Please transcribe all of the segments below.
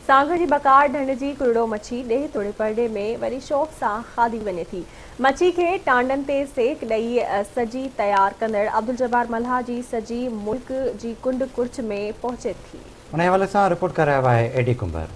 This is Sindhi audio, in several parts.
سانگهڙ جي بڪار ڍنڍ جي ڪرڙو مڇي ڏيهه توڙي پرڏيهه ۾ وڏي شوق سان کاڌي وڃي ٿي. مڇي کي ٽانڊن تي سيڪ ڏئي سڄي تيار ڪندڙ عبدالجبار ملاح جي سڄي ملڪ جي ڪنڊ ڪڙڇ ۾ پهچي ٿي. انهيء حوالي سان رپورٽ ڪري رهيو آهي اي ڊي ڪنڀر.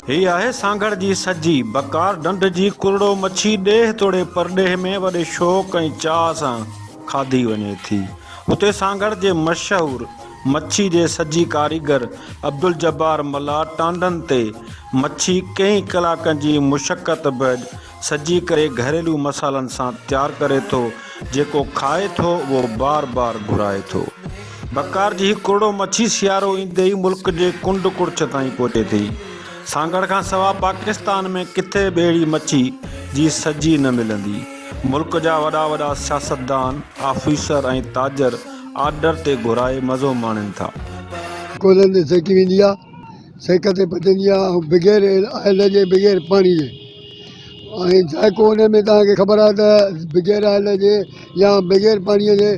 هي آهي سانگهڙ جي سجي، بڪار ڍنڍ جي ڪرڙو مڇي ڏيهه توڙي پرڏيهه ۾ وڏي شوق ۽ چاهه سان کاڌي وڃي ٿي. اتي سانگهڙ جي مشهور مڇي جي سجي ڪاريگر عبدالجبار ملاح ٽانڊن تي مڇي ڪئين ڪلاڪن جي مشقت بعد سجي ڪري گهريلو مصالحن سان تيار ڪري ٿو جيڪو کائي ٿو اهو بار بار گهرائي ٿو بڪار جي هي ڪرڙو مڇي سيارو ايندي ئي ملڪ جي ڪنڊ ڪڙڇ تائين پهچي ٿي سانگهڙ کان سوا پاڪستان ۾ ڪٿي به اهڙي مڇي جي سجي نه ملندي ملڪ جا وڏا وڏا سياستدان آفيسر ۽ تاجر آرڊر تي گهرائي مزو ماڻين ٿا. ڪولهن تي سيڪي ويندي آهي سيڪ تي پچندي آهي ۽ بغير آئل جي بغير پاڻي جي ۽ ذائقو ان ۾ توهان کي خبر آهي ته بغير آئل جي يا بغير پاڻي جي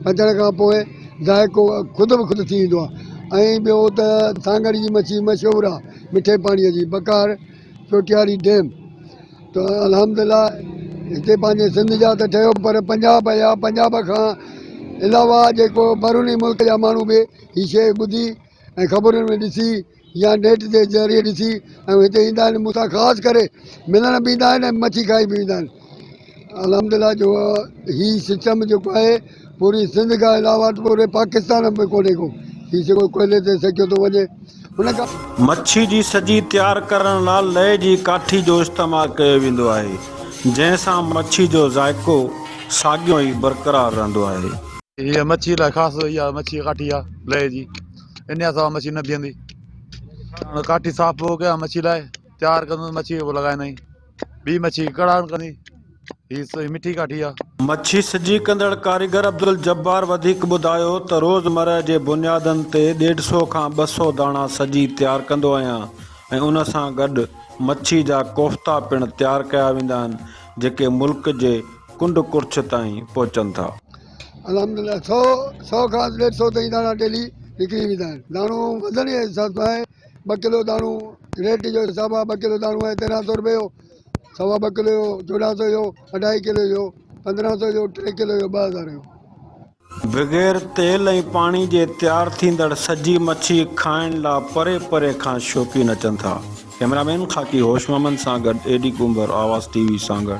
پچڻ کان پوء ذائقو خود به خود ٿي ويندو آهي ۽ ٻيو ته سانگهڙ جي مڇي مشهور آهي مٺي پاڻي جي بقار چوٽياري ڊيم ته الحمد لله هتي پنهنجي سنڌ جا ته ٺهيو پر پنجاب يا پنجاب کان علاوه جيڪو بروني ملڪ جا ماڻهو به هي شيء ٻڌي ۽ خبرن ۾ ڏسي يا نيٽ جي ذريعي ڏسي ۽ هتي ايندا آهن مون سان خاص ڪري ملڻ به ايندا آهن ۽ مڇي کائي به ويندا آهن الحمدلله جو هي سسٽم جيڪو آهي پوري سنڌ کان علاوه پوري پاڪستان ۾ ڪونهي ڪو هي سگهو ڪوئلي تي سيڪيو ٿو وڃي ان کان مڇي جي سڄي تيار ڪرڻ لا لئي جي ڪاٺي جو استعمال ڪيو ويندو آهي جنهن سان مڇي جو ذائقو ساڳيو ئي برقرار رهندو آهي. هيء مڇي لاء خاص اها مڇي ڪاٺي آهي. لئي جي انيا سوا مڇي نه بيهندي. هاڻ ڪاٺي صاف پوء ڪيا مڇي لاء تيار ڪندس مڇي پوء لڳائيندائين ٻي مڇي ڪڙاڻ ڪندي هي سوئي مٺي ڪاٺي آ. مڇي سجي ڪندڙ ڪاريگر عبدالجبار وڌيڪ ٻڌايو ته روزمره جي بنيادن تي ڏيڍ سو کان ٻه سو داڻا سجي تيار ڪندو آهيان ۽ ان سان گڏ مڇي جا ڪوفتا پڻ تيار ڪيا ويندا آهن جيڪي ملڪ جي ڪنڊ ڪڙڇ تائين پهچن ٿا. الحمد الله سؤ سؤ کان ڏيڍ سؤ تائين داڻا ڊيلي وڪري ويندا آهن داڻو وزن جي حساب سان آهي ٻه ڪلو داڻو ريٽ جو حساب آهي ٻه ڪلو داڻو آهي تيرهن سؤ روپيه جو سوا ٻه ڪلو جو چوڏهن سؤ جو اڍائي ڪلو جو پندرهن سؤ جو ٽي ڪلو جو ٻه هزار جو بغير تيل ۽ پاڻي جي تيار ٿيندڙ سجي مڇي کائڻ لا پري پري کان شوقين اچن ٿا ڪيمرا مين خاڪي هوش محمد سان گڏ اي ڊي ڪنڀر آواز ٽي وي سانگهڙ.